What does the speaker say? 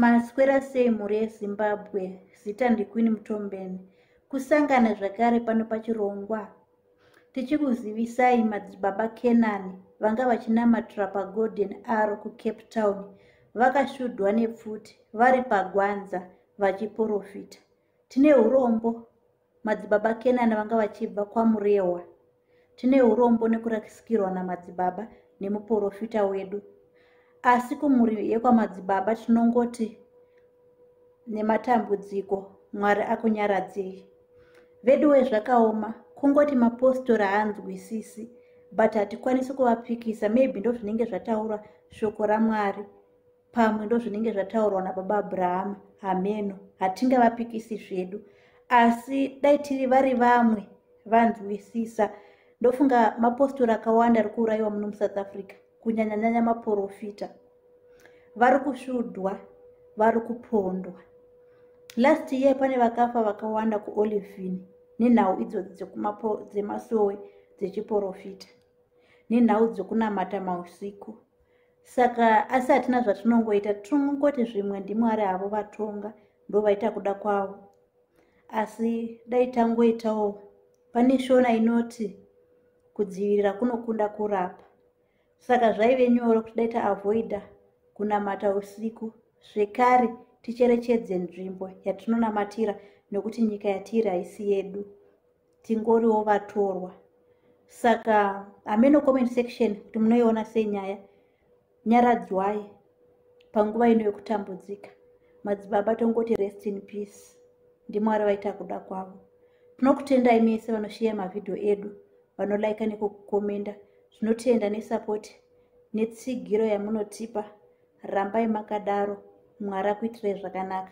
Maswera sei mhuri yeZimbabwe, zita ndiQueen Mtombeni. Kusangana zvakare pano pachirongwa tichikuzivisai madzibaba Kenani vanga vachinamatira paGolden Arrow kuCape Town vakashudhwa nepfuti vari pagwanza vachiporofita. Tine urombo madzibaba kenani vanga vachibva kwamurehwa tine urombo nekurasikirwa namadzibaba nemuporofita wedu asi kumhuri yekwamadzibaba tinongoti nematambudziko mwari akunyaradzei veduwe zvakaoma kungoti mapostori haanzwisisi but hatikwanisi kuvapikisa maybe ndozvinenge zvataura shoko ramwari pamwe ndozvinenge zvataurwa nababa abrahama hameno hatingavapikisi zvedu asi dai tiri vari vamwe vanzwisisa ndofunga mapostori akawanda ari kuurayiwa muno musouth africa kunyanyanyanya maporofita vari kusvudwa vari kupondwa last year pane vakafa vakawanda kuolivin nenhau idzodzi dzemasowe dzechiporofita nenhau dzekunamata mausiku saka asi hatina zvatinongoita tinongoti zvimwe ndimwari havo vatonga ndovaita kuda kwavo asi dai tangoitawo pane shona inoti kudzivirira kunokunda kurapa saka zvaive nyoro kuti dai taavoida kunamata usiku zvekare ticherechedze nzvimbo yatinonamatira nokuti nyika yatiri haisi yedu tingoriwo vatorwa saka hameno comment section kuti munoiona sei nyaya nyaradzwai panguva ino yokutambudzika madzibaba tongoti rest in peace ndimwari vaita kuda kwavo tinokutendai mese vanosheya mavhidhiyo edu vanolaika nekukukomenda zvinotenda nesapoti netsigiro yamunotipa rambai makadaro mwari akuitirai zvakanaka